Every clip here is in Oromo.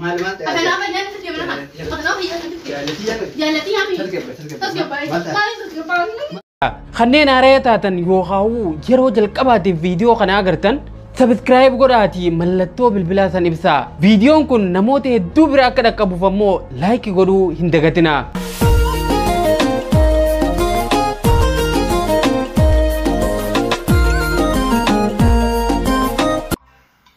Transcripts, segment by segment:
Maal maal ta'e? Akkanaa fayyaan itti deemna maal? Akkanaa fayyaan itti deemna. Jaallatii yaada. Jaallatii yaa fayyaan. Tasgabbaa'e, tasgabbaa'e. Tasgabbaa'e. Maal ta'e? Maal tasgabbaa'e? Kanneen haaraya taatan yookaan yeroo jalqabaatiif viidiyoo kana agartan sabiskiraayib godhaatii mallattoo bilbilaa san ibsaa. Viidiyoon kun namoota hedduu bira akka dhaqqabuuf ammoo laayiki godhuu hin dagatinaa.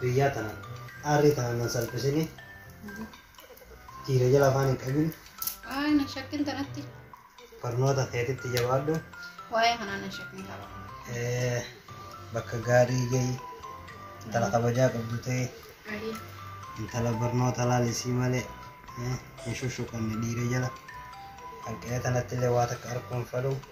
Biyyaa tanaan aarrii tanaan nan salphisini dhiira jala afaan hin qabin Waa'ee na shakkin tanatti barnoota keetitti jabaadhu waa'ee kanaa na shakkin qaba. eh, bakka gaarii gahi intala kabajaa qabdu ta'e Ayii. intala barnoota laalisii malee eh, hin shushuqanne dhiira jala hanqina tanatti illee waa takka arguu hin fedhu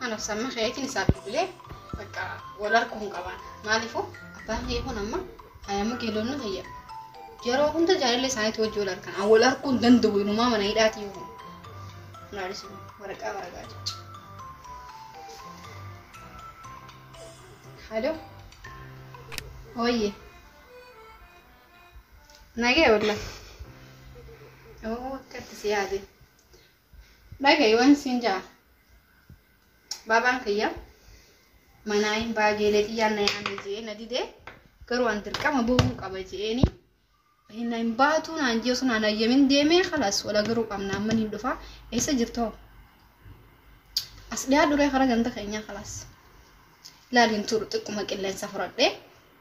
Ana samma keetiin isaa bilbilee bakka wal arguu hin qaban. Maaliifuu abbaan kee kun amma ayyaama geelonni kiyya. Yeroo hunda jaalallee isaaniitti wajjin wal argan. An wal arguu hin danda'u inumaa mana hidhaati yoo ta'u. Naalis waraqaa waraqaa jecha. Halo. Hooyyee. Nagee wallah. Oo akkatti si yaade. Dhaga'i waan siin ja'a. Baabaan kiyya manaa hin baageelee xiyyaan na yaame jee na dide garuu an dirqama bahuu qaba jeeni. Hin hin baatuu naan jee osoo naan ayyamin deemee kalas wala garuu qabna amman hin dhufa eessa jirtoo? As dhiyaa duree karaa ganda keenyaa kalas. Laal hin turu xiqquma qilleensa fudhadhee.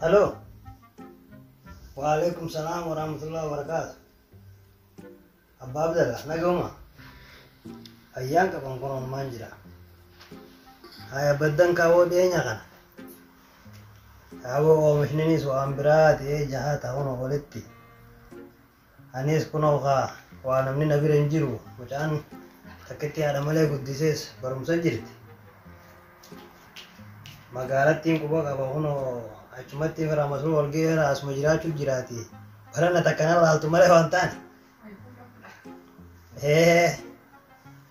Halo. Waalaikum salam warahmatullahi wabarakatuh. Abba Abdallah, nagoma. Ayyaan qaban kun onumaan jira. Haya baddan kaawoo dhiyeenya kana. Kaawoo oomishninis waan biraa ta'ee jahaa ta'uun olitti. Aniis kunoo kaa waa namni na bira hin jiru mucaan takkittii haadha malee guddisees barumsa jirti magaalattiin quba qaba kunoo achumatti fira masuu wal geera asuma jiraachuu jiraati barana takka na laaltu malee waan taane ee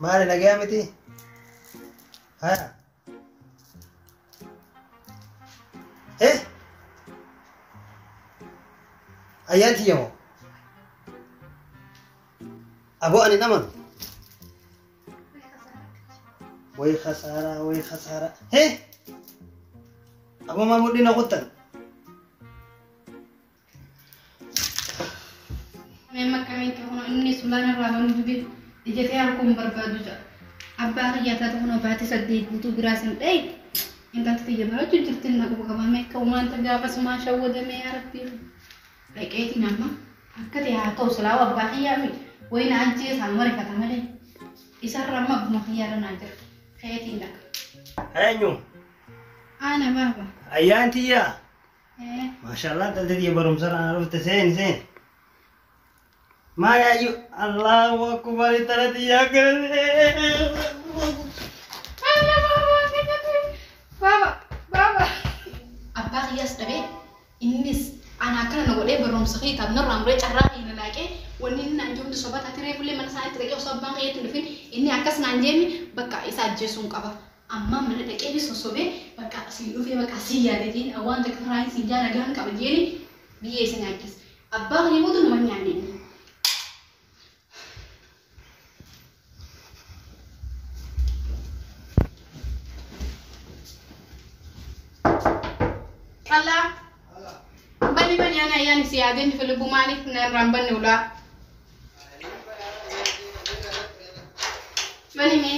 maali nagayaa miti haya Eh? Ayyaan tiyya hoo? Aboo ani nama nu. Way khasaaraa, way khasaaraa. Eh? Aboo maa mudhiin na kuttan? Mee makkamiin ta'uu inni sulaan irraa banuu didee ijatee harkuu hin barbaadu ja'a. Abbaa kiyyaa taatu kunoo baatii saddeet guutuu biraa sin dhayi. Intalti tiyya barachuu jirti inni quba qabaa mee akka umaanta gaafa sumaa shawwadamee yaa rabbii. Dhaqeetiin amma akka ta'e haa ta'u silaa abbaa kiyyaa mi wayina ajjeesaan marifata malee isarra amma abbuma kiyyaa irra naa jira. Ka'eetiin dhaqa. Eenyu? Ana baaba. Ayyaan tiyyaa? Maashaallah qalti tiyya barumsa irraa na dhufte seeni seeni. Maa yaayyu Allahu akbar intala tiyya akkana Baaba, baaba. Abbaa kiyyaas dhabee innis ana akkana na godhee barumsa kee taat narraa muree carraa kee na laaqee wanni inni naan jirutti soba taatee reefullee mana isaaniitti dhaqee osoo abbaan kiyyaatti hin dhufin inni akkas naan jeemi bakka isa ajjeesuun qaba. Ammaan mana dhaqeeti sossobee bakka siin dhufee bakka sii yaade jeen waan takka faraayin siin jaa nagaan qaba jeeni biyyee isa nyaachise. Abbaa kiyya booda nama hin nyaanne inni. Kallaa bani bani ana ayyaani si yaadee mifa lubbuu maaliif narraan banne ulaa. Bani mee.